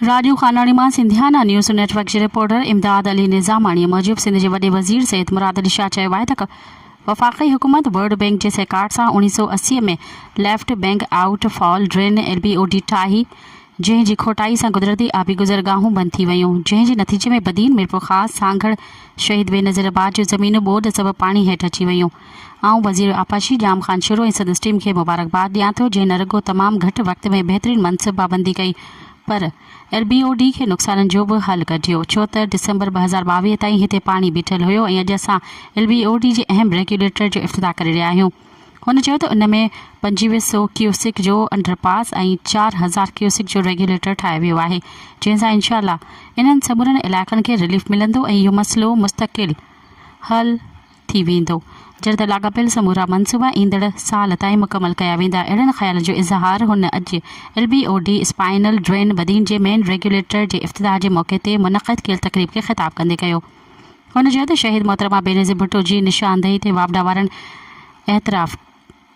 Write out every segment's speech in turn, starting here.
راڄو خاناڻي مان Sindhiana news network جي reporter Imdad Ali Nizamani موجب سنڌ جي وڏي وزير سيد مراد علي شاهه چيو آهي ته وفاقي حڪومت ورلڊ بئنڪ جي سهڪار سان اوڻيهه سؤ اسي ۾ left bank outfall drain L B O D ٺاهي جنهن جي کوٽائي سان قدرتي آبي گذرگاهون بند ٿي ويون جنهن جي نتيجي ۾ بدين ميرپورخاص سانگهڙ شهيد بينظير آباد جون زمينون ٻوڏ سبب پاڻي هيٺ اچي ويون. آئون وزير آبپاشي ڄام خان شروع ۽ سندس ٽيم کي مبارڪباد ڏيان ٿو جنهن نه رڳو تمام گهٽ وقت ۾ بهترين منصب بابندي ڪئي پر ايل بي او ڊي کي نقصانن جو به حل ڪڍيو ڇو ته ڊسمبر ٻه هزار ٻاويهه تائين هتي پاڻي بيٺل هيو ۽ اڄ اسان ايل بي او ڊي جي اهم ريگيوليٽر جو افتتاح ڪري رهيا آهيون هن چيو ته ان ۾ پنجويهه سئو ڪيوسڪ جو انڊر پاس ۽ چار هزار ڪيوسڪ جو ريگيوليٽر ٺاهيو ويو آهي جنهن سان انشاء الله انهن سمورن علائقن کي رليف ملندو ۽ اهو مسئلو مستقل حل ٿي ويندو، جڏهن ته لاڳاپيل سمورا منصوبا ايندڙ سال تائين مڪمل ڪيا ويندا، اهڙن خيالن جو اظهار هن اڄ L B O D spinal drain Badin جي مين ريگيوليٽر جي افتتاح جي موقعي تي منعقد ڪيل تقريب کي خطاب ڪندي ڪيو. هن چيو ته شهيد محترمه بينظير ڀٽو جي نشاندهي تي واپڊا وارن اعتراف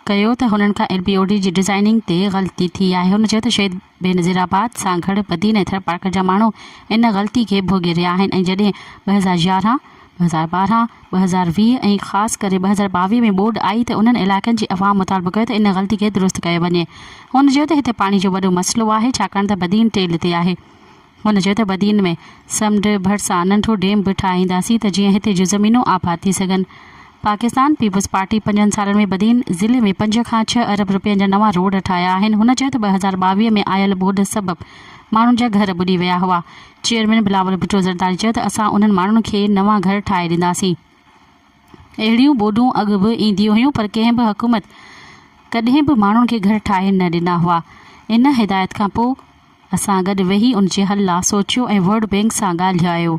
ڪيو ته هنن کان ايل بي او ڊي جي ڊزائيننگ تي غلطي ٿي آهي هن چيو ته شهيد بينظير آباد سانگهڙ بدين ۽ ٿرپارڪر جا ماڻهو ان غلطي کي ڀوڳي رهيا آهن ۽ جڏهن ٻه هزار يارهن، ٻه هزار ٻارهن، ٻه هزار ويهه ۽ خاص ڪري ٻه هزار ٻاويهه ۾ ٻوڏ آئي ته انهن علائقن جي عوام مطالبو ڪيو ته ان غلطي کي درست ڪيو وڃي هن چيو ته هتي پاڻي جو وڏو مسئلو آهي ڇاڪاڻ ته بدين ٽيل تي آهي هن چيو ته بدين ۾ سمنڊ ڀرسان ننڍو ڊيم به ٺاهينداسين ته جيئن هتي جون زمينون آباد ٿي سگهن. پاڪستان پيپلز پارٽي پنجن سالن ۾ بدين ضلعي ۾ پنج کان ڇهه ارب رپين جا نوان روڊ ٺاهيا آهن. هن چيو ته ٻه هزار ٻاويهه ۾ آيل ٻوڏ سبب ماڻهن جا گهر ٻڏي ويا هئا. چيئرمين بلاول ڀٽو زرداري چيو ته اسان انهن ماڻهن کي نوان گهر ٺاهي ڏينداسين. اهڙيون ٻوڏون اڳ به اينديون هيون پر ڪنهن به حڪومت ڪڏهن به ماڻهن کي گهر ٺاهي نه ڏنا هئا. ان هدايت کان پوء اسان گڏ ويهي ان جي حل لا سوچيو ۽ ورلڊ بينڪ سان ڳالهيايو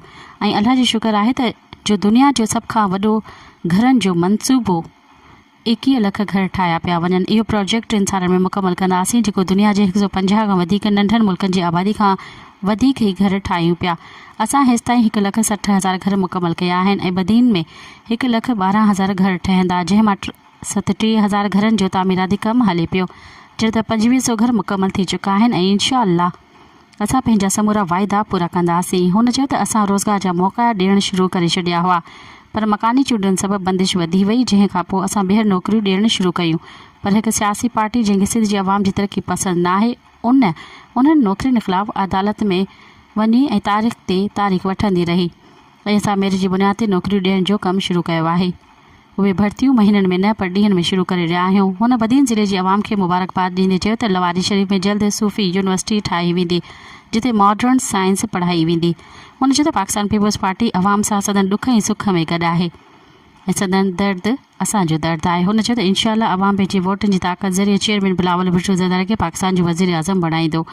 ۽ الله جو شڪر آهي ته جو دنيا جو سڀ کان وڏو گهرن جو منصوبو ايڪيهه لک گهر ٺاهيا پيا وڃن اهو پراجيڪٽ ٽن سالن ۾ مڪمل ڪنداسين جيڪو دنيا جي هڪ سؤ پنجاهه کان وڌيڪ ننڍن ملڪن جي آبادي کان وڌيڪ هي گهر ٺاهيون پيا اسان هيستائين هڪ لک سٺ هزار گهر مڪمل ڪيا آهن ۽ بدين ۾ هڪ لک ٻارهن هزار گهر ٺهندا جنهن مان ست ٽيهه هزار گهرن جو تعميراتي ڪم هلي پيو جڏهن ته پنجويهه سئو گهر مڪمل ٿي چڪا آهن ۽ انشاء الله اسان پنهنجا سمورا واعدا پورا ڪنداسين هن چيو ته اسان روزگار جا موقعا ڏيڻ شروع ڪري ڇڏيا هئا پر مڪاني چونڊن سبب بندش وڌي وئي جنهن کانپوء اسان ٻيهر نوڪريون ڏيڻ شروع ڪيون پر هڪ سياسي پارٽي جنهن کي سنڌ جي عوام جي ترقي پسند ناهي ان انهن نوڪرين خلاف عدالت ۾ وڃي ۽ تاريخ تي تاريخ وٺندي رهي ۽ اسان ميرٽ جي بنياد تي نوڪريون ڏيڻ جو ڪم شروع ڪيو آهي. اهي ڀرتيون مهينن ۾ نه پر ڏينهن ۾ شروع ڪري رهيا آهيون. هن بدين ضلعي جي عوام کي مبارڪباد ڏيندي چيو ته لواري شريف ۾ جلد صوفي يونيورسٽي ٺاهي ويندي جتي ماڊرن سائنس پڙهائي ويندي. هن چيو ته پاڪستان پيپلز پارٽي عوام سان سندن ڏک ۽ سک ۾ گڏ آهي ۽ سندن درد اسان جو درد آهي. هن چيو ته انشاءالله عوام پنهنجي ووٽن جي طاقت ذريعي چيئرمين بلاول ڀٽو زرداري کي پاڪستان جو وزيراعظم بڻائيندو ۽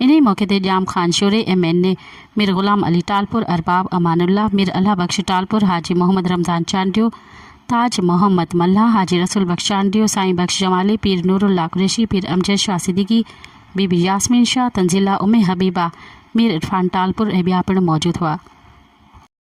انهيء موقعي تي Jam Khan Shoro, M N A, Mir Ghulam Ali Talpur, Arbab امان الله، مير الله بخش ٽالپر، حاجي محمد رمضان چانڊيو، تاج محمد ملاح، حاجي رسول بخش چانڊيو، سائين بخش جمالي، پير نورالله قريشي، پير امجد شاهه صديقي، بي بي ياسمين شاهه، تنزيلا ام حبيبه، مير عرفان ٽالپر ۽ ٻيا پڻ موجود هئا.